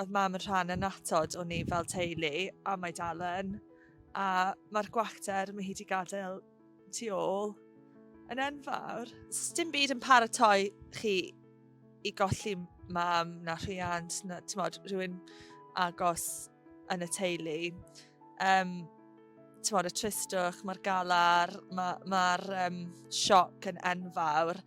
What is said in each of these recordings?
oedd mam yn rhan annatod o ni fel teulu, a mae dal yn. A mae'r gwacter mae hi wedi gadael tu ôl yn enfawr. Dim byd yn paratoi chi i golli mam na rhiant, na, ti'n modd, rhywun agos yn y teulu. Um, ti'n modd, y tristwch, mae'r galar, mae'r ma, ma um, sioc yn enfawr.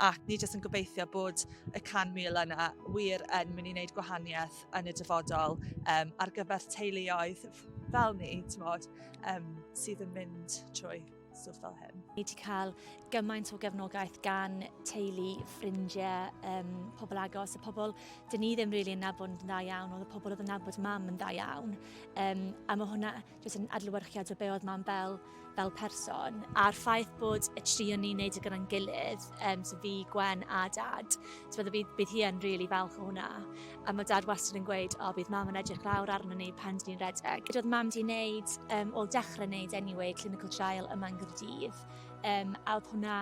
ac ni jyst yn gobeithio bod y 100,000 yna wir yn mynd i wneud gwahaniaeth yn y dyfodol um, ar gyfer teuluoedd fel ni, ti'n bod, um, sydd yn mynd trwy stwff fel hyn. Ni wedi cael gymaint o gefnogaeth gan teulu, ffrindiau, um, pobl agos, y pobl dyn ni ddim rili really yn nabod yn dda iawn, ond y pobl oedd yn nabod mam yn dda iawn. Um, a mae hwnna jyst yn adlewyrchiad o be oedd Mam Bel fel person, a'r ffaith bod y tri o'n ni'n neud e gyda'n gilydd, um, so fi, Gwen a Dad, so fydde bydd, bydd hi yn rili really falch o hwnna. A mae Dad wastad yn gweud, o, bydd Mam yn edrych lawr arno ni pan dyn ni'n redeg. Gyda'r Mam di'n neud, um, o dechrau neud anyway, clinical trial yma yn Gyrdydd, um, a oedd hwnna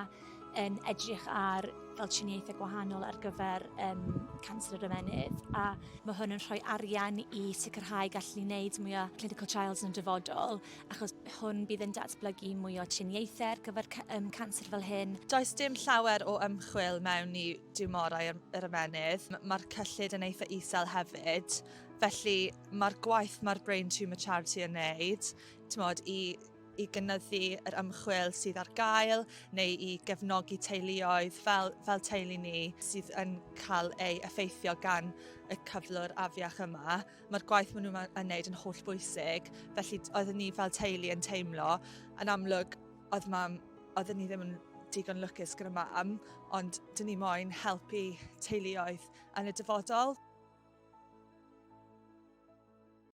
yn edrych ar fel triniaethau gwahanol ar gyfer um, canser yr ymenydd a mae hwn yn rhoi arian i sicrhau gallu ni wneud mwy o clinical trials yn y dyfodol achos hwn bydd yn datblygu mwy o triniaethau ar gyfer um, canser fel hyn. Does dim llawer o ymchwil mewn i diwmorau yr ymenydd. Mae'r cyllid yn eitha isel hefyd, felly mae'r gwaith mae'r Brain Tumour Charity yn wneud, ti'n modd, i i gynyddu yr ymchwil sydd ar gael neu i gefnogi teuluoedd fel, fel teulu ni sydd yn cael ei effeithio gan y cyflwr afiach yma. Mae'r gwaith maen nhw'n yn wneud yn holl bwysig, felly oeddwn ni fel teulu yn teimlo yn amlwg oedd mam, oeddwn ni ddim yn digon lwcus gyda mam, ond dyn ni moyn helpu teuluoedd yn y dyfodol.